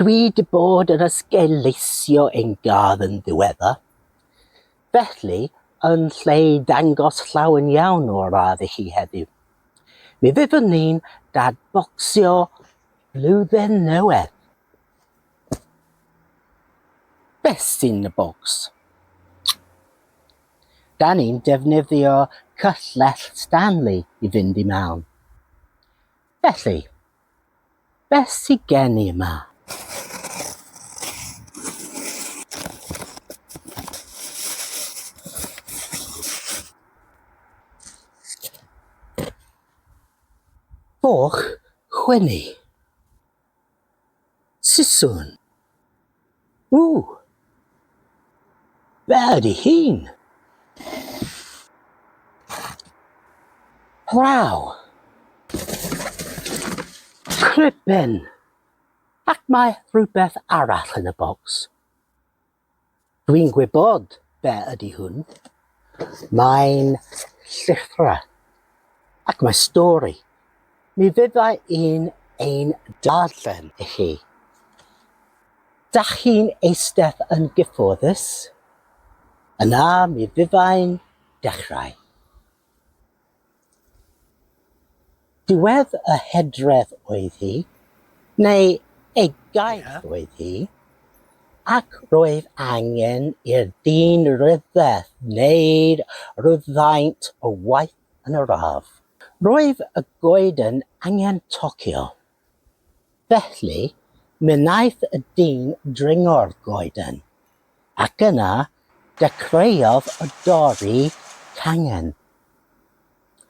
Dwi 'di bod yn esgeuluso ein gardd yn ddiweddar, felly yn lle i ddangos llawen iawn o'r ardd i chi heddiw, mi fyddwn ni'n dadbocsio Blwyddyn Newydd. Beth sy'n y bocs? Da ni'n defnyddio cyllell Stanley i fynd i mewn. Felly, Beth sy gen i yma? Foch chwennu. Siswrn. Ww! Be ydy hyn? Waw! Cribin! Ac mae rhywbeth arall yn y bocs. Dwi'n gwybod be ydy hwn. Mae'n llithro ac mae stori. Mi fydda i'n ein darllen i chi. Dach chi'n eistedd yn gyfforddus? Yna mi fyddai'n dechrau. Diwedd y hydref oedd hi, neu ei gaeth oedd hi, ac roedd angen i'r dyn ryfedd wneud rhywfaint o waith yn yr ardd. Roedd y goeden angen tocio, Felly, mynaeth y dyn dringo'r goeden, ac yna dechreuodd o dorri cangen.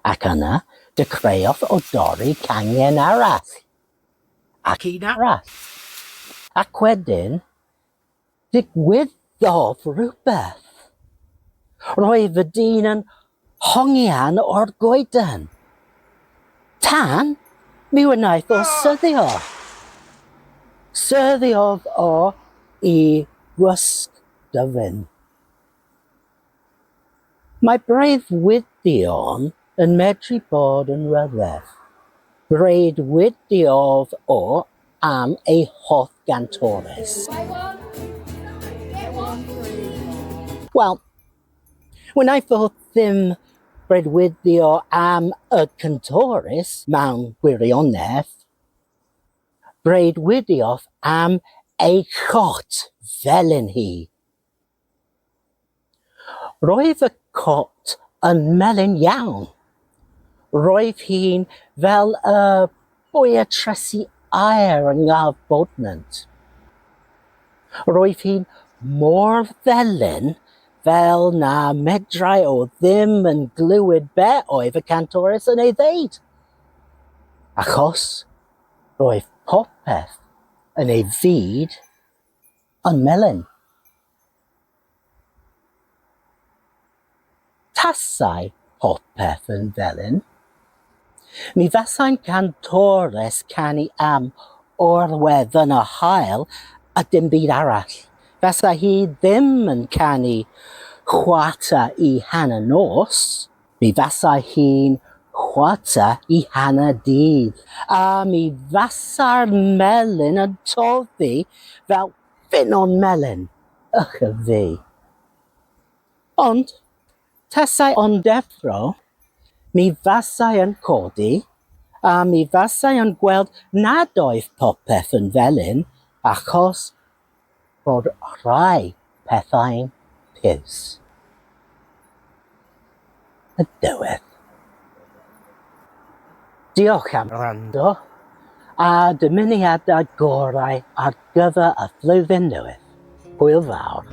Ac yna dechreuodd o dorri cangen arall. Ac un arall. Ac wedyn, Digwyddodd rhywbeth. Roedd y dyn yn hongian o'r goeden. Tan, mi wnaeth o syddio. Syddiodd o i gwsg dyfyn. Mae breuddwydion yn medru bod yn rhyfedd. Breuddwydiodd o am ei hoff gantores. Wel, wnaeth o ddim breuddwydio am y cantores mewn gwirionedd. Breuddwydiodd am ei chot felin hi. Roedd y cot yn melyn iawn. Roedd hi'n fel y boetresu aer yng ngaf Bodnant. Roedd hi'n mor felyn fel na medrai o ddim yn glywed be oedd y cantores yn ei ddeud, achos roedd popeth yn ei fyd Yn melyn. Tasai popeth yn felyn, mi fasai'n gantores canu am orwedd yn y haul a dim byd arall. Fasa hi ddim yn canu chwarter i hanner nos. Mi fasai hi'n chwarter i hanner dydd. A mi fasai'r melyn yn toddi fel ffynnon melyn, ych a fi. Ond, tasai o'n deffro, mi fasai yn codi, a mi fasai yn gweld nad oedd popeth yn felyn, achos bod rhai pethau'n piws. Y dywed. Diolch am wrando a dymuniadau gorau ar gyfer y flwyddyn newydd. Hwyl fawr.